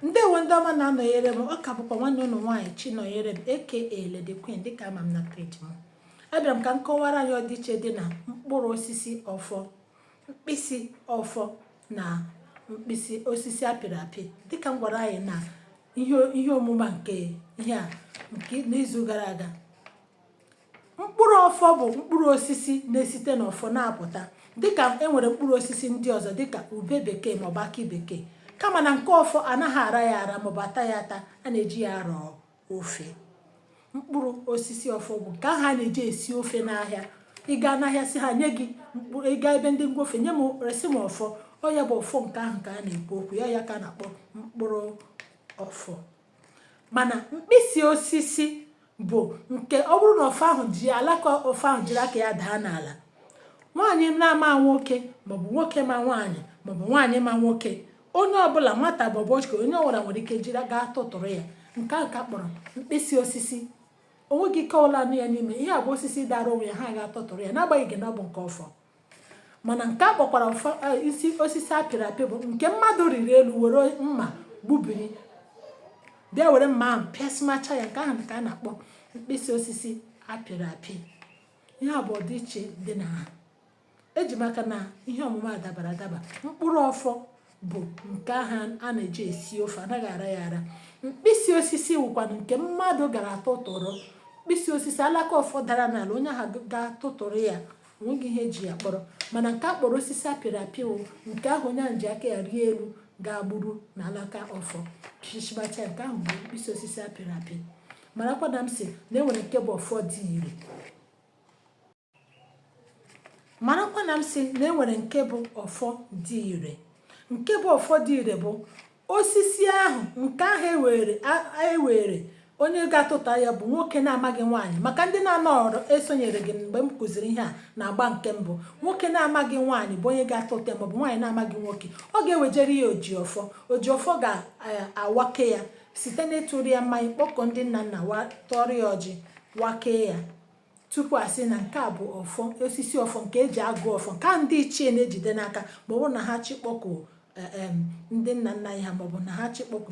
ndewo ndị ọma na-anọnyere m ọ ka bụkwa nwanne ụnụ nwaanyị Chinọnyerem aka Lady Queen dịka a ma m na peji m abịara m ka m kọwara anyị ọdịiche dị na mkpụrụ osisi ọfọ mkpịsị ọfọ na mkpịsị osisi apịrị apị dịka m gwara anyị na ihe omume nke ihe a nke n'izu gara aga mkpụrụ ọfọ bụ mkpụrụ osisi na-esite n'ọfọ na-apụta dịka e nwere mkpụrụ osisi ndị ọzọ dịka ube bekee maọbụ akị bekee kama na nke ọfọ anaghị ara ya ara maọbụ ata ya ata a na-eji ya arọ ofe mkpụrụ osisi ọfọ bụ nke ahụ a na-eji esi ofe n'ahịa ị gaa n'ahịa sị ha nye gị mkpụrụ ị gaa ebe ndị ngwa ofe nye m resị m ọfọ ọ ya bụ ọfọ nke ahụ ka a na-ekwu okwu ya ya ka a na-akpọ mkpụrụ ọfọ mana mkpịsị osisi bụ nke ọ bụrụ na ọfọ ahụ ji alaka ọfọ ahụ jiri aka ya daa n'ala nwaanyị na-ama nwoke maọbụ nwoke ma nwaanyị maọbụ nwaanyị ma nwoke onye ọbụla nwata maọbụ okenye onye ọbụla nwere ike ịga tụtụrụ ya nke a ka a kpọrọ mkpịsị osisi onweghị ike ọbụla nọ ya n'ime ihe a bụ osisi dara onwe ya ha ga-atụtụrụ ya n'agbanyeghị na ọ bụ nke ọfọ mana nke a kpọkwara e, isi osisi apịrị apị bụ nke mmadụ rịrị elu were mma gbubiri bịa were mma ahụ pịasịmacha ya nke ahụ ka a na-akpọ mkpịsị osisi apịrị apị ihe a bụ ọdịiche dị na ha eji m aka na ihe ọmụma dabara adaba mkpụrụ ọfọ bụ nke ahụ a na-eji esi ofe anaghị ara ya ara mkpịsị osisi wụkwanụ nke mmadụ gara tụtụrụ mkpịsị osisi alaka ọfọ dara n'ala onye ahụ ga-atụtụrụ ya onweghị ihe eji ya kpọrọ mana nke a kpọrọ osisi apịrị apị wụ nke ahụ onye ahụ ji aka ya rịa elu gaa gburu na alaka ọfọ chichibacha nke ahụ bụ mkpịsị osisi apịrị apị marakwa na m sị na enwere nke bụ ọfọ dị ire marakwa na m sị na enwere nke bụ ọfọ dị ire nke bụ ọfọ dị ire bụ Osisi ahụ nke ahụ ewere onye ga-atụta ya bụ nwoke na-amaghị nwaanyị maka ndị na-anọrọ esonyere gị mgbe m kụziri ihe a n'agba nke mbụ nwoke na-amaghị nwaanyị bụ onye ga-atụta ya maọbụ nwaanyị na-amaghị nwoke ọ ga-ewejere ya ojiọfọ ojiọfọ ga-awake ya site n'ịtụrụ ya mmanya kpọkuo ndị nna nna wa tọrọ ya ọjị wakee ya tupu a sị na nke a bụ ọfọ osisi ọfọ nke eji agọ ọfọ nke a ndị ichie na-ejide n'aka ma ọ bụrụ na ha chọọ ịkpọku e, em, ndị nna nna anyị ha maọbụ na ha chọọ ịkpọku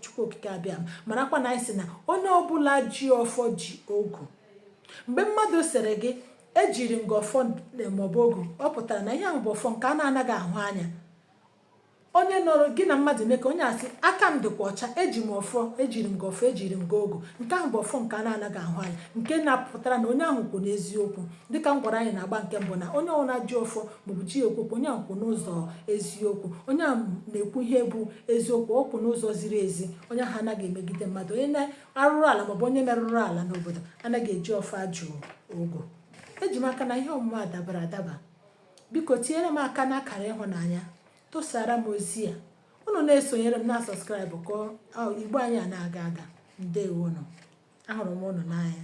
Chukwu Okike Abịama marakwa na anyị sị na onye ọbụla ji ọfọ ji ogu mgbe mmadụ sịrị gị ejiri m gị ọfọ maọbụ ogu ọ pụtara na ihe ahụ bụ ọfọ nke a na-anaghị ahụ anya onye nọrọ gị na mmadụ mee ka onye asị aka m dịkwa ọcha eji m ọfọ ejiri m gị ọfọ ejiri m gị ogu nke ahụ bụ ọfọ nke a na-anaghị ahụ anya nke na-apụtara na onye ahụ kwụ n'eziokwu dịka m gwara anyị n'agba nke mbụ na onye ọwụna ji ọfọ maọbụ ji ekwu okwu onye ahụ kwụ n'ụzọ eziokwu onye ahụ na-ekwu ihe bụ eziokwu ọ kwụ n'ụzọ ziri ezi onye ahụ anaghị emegide mmadụ onye na-arụrụ ala maọbụ onye merụrụ ala n'obodo anaghị eji ọfọ ajụ ogu eji m aka na ihe ọmụma a dabara adaba biko tinyere m aka n'akara ịhụnanya tụsara m ozi a unu na-esonyere m na subscribe ka igbo anyị a na-aga aga ndewonụ ahụrụ m unu n'anya